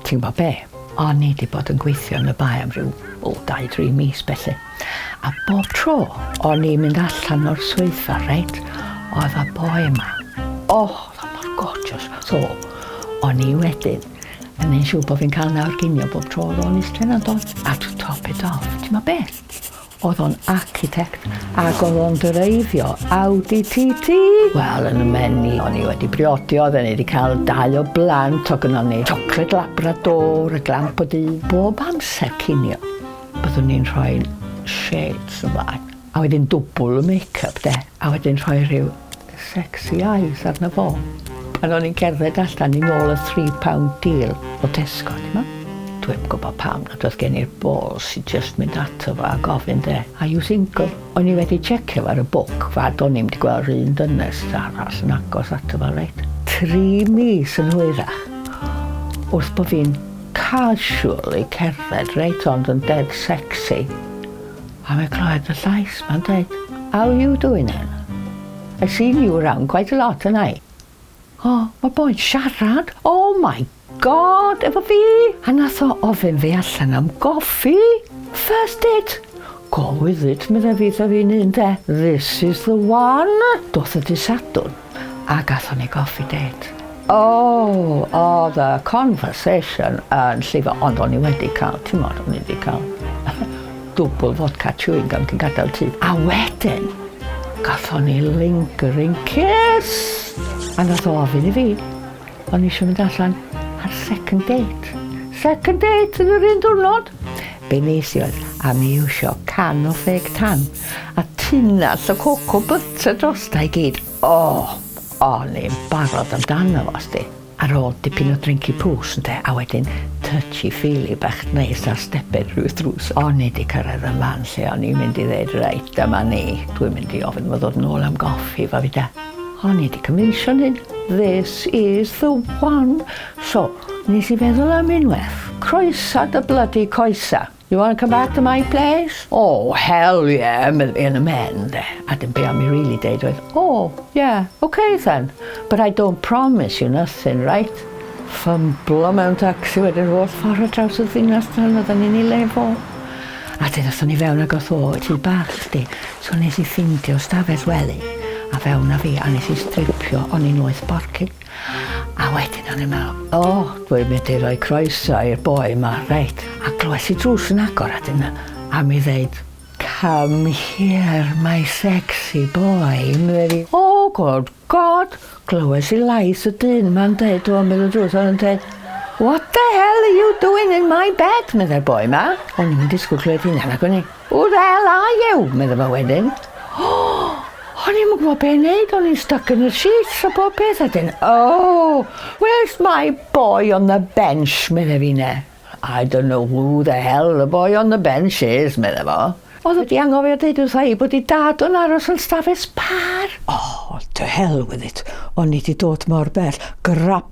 Ti'n gwybod be? O'n i 'di bod yn gweithio yn y Bae am ryw, o, dau, dri mis felly. A bob tro o'n i'n mynd allan o'r swyddfa, reit, oedd y boi yma. O, oedd o mor gorgeous. So, o'n i wedyn yn neud siŵr bod fi'n cael nawr ginio bob tro oedd o'n iste yna'n dod. A to top it off, ti'n gwybod be? Oedd o'n architect ac oedd o'n dreifio Audi TT! Wel, yn y menu, o'n i wedi briodi, oedd o'n i wedi cael dau o blant, o gynnon ni chocolate labrador, y glamp o du. Bob amser cinio, byddwn ni'n rhoi shades ymlaen, a wedyn dwbl y make-up, de, a wedyn rhoi rhyw sexy eyes arno fo. Pan o'n i'n cerdded allan yn ôl y three pound deal o Tesco t'mo'? Dwi'm gwbo pam nad odd gen i'r balls i jyst mynd ato fo a gofyn 'de, are you single? O'n i wedi checio fo ar y book fad o'n i'm 'di gweld 'r un ddynes arall yn agos ato fo reit. Tri mis yn hwyrach wrth bo' fi'n casually cerdded reit ond yn dead sexy. A fi'n clywed y llais ma'n dweud How are you doing then? I've seen you around quite a lot and I O, mae boi'n siarad! Oh my God! Efo fi! A nath o ofyn fi allan am goffi! First date! Go with it, medda fi 'tha fi'n hun 'de. This is the one! Doth y dy Sadwrn. a gathon ni goffi dêt. O! O'dd y conversation yn llifo ond o'n i wedi ca'l t'mod o'n i 'di ca'l dwbwl fodca chewing gum cyn gadel y tŷ a wedyn gathon ni lingering kiss! A nath o ofyn i fi o'n i isio mynd allan ar second date. Second date yn yr un diwrnod? Be' nes i oedd a mi iwsio can o ffêc tan. A tunnell o cocoa butter drosta i gyd. O! O'n i'n barod amdano fo, sdi. Ar ôl dipyn o drinky poos, ynde, a wedyn touchy feely bach neis ar steped ryw drws, o'n i 'di cyrraedd y man lle o'n i'n mynd i ddeud, reit, dyma ni, dwi'n mynd i ofyn iddo fo ddod nôl am goffi efo fi, 'de. O'n i 'di cymhwyso'n hyn, this is the one! So, nes i feddwl am unwaith, croesa dy blydi coesa! You want to come back to my place? Oh, hell yeah, Emily yn y men, de. A dim be am i really deud oedd, oh, yeah, okay then, but I don't promise you nothing, right? Ffymblo mewn taxi wedyn holl ffordd ar draws y ddinas tan oedden ni'n ei lefo. A dyn oedden ni fewn ag oedd o, ti bach chdi, so nes i ffindio stafell wely, a fewn a fi, a nes i stripio, o'n i'n oeth borcig. A wedyn o'n i'n meddwl, o, dwi'n mynd i roi croeso i'r boi ma, reit. A glywais i drws yn agor a dyna am i ddeud, Come here my sexy boy, medde fi. Oh good God! Glywais i lais y dyn yma'n deud o ymyl y drws a yn deud, What the hell are you doing in my bed? medde'r boi ma. O'n i'm yn disgwyl clywed hynna nagwn i? Who the hell are you? medda fo wedyn. Oh! O'n i'm yn gwybod be' neud, o'n i'n styc yn y sheets a bob peth a 'dyn Oh! Where's my boy on the bench? medda finne. I don't know who the hell the boy on the bench is, medda fo. O'dd o 'di anghofio deud wrtha i bod 'i dad yn aros yn stafell sbâr! Oh, to hell with it, o'n i 'di dod mor bell, grab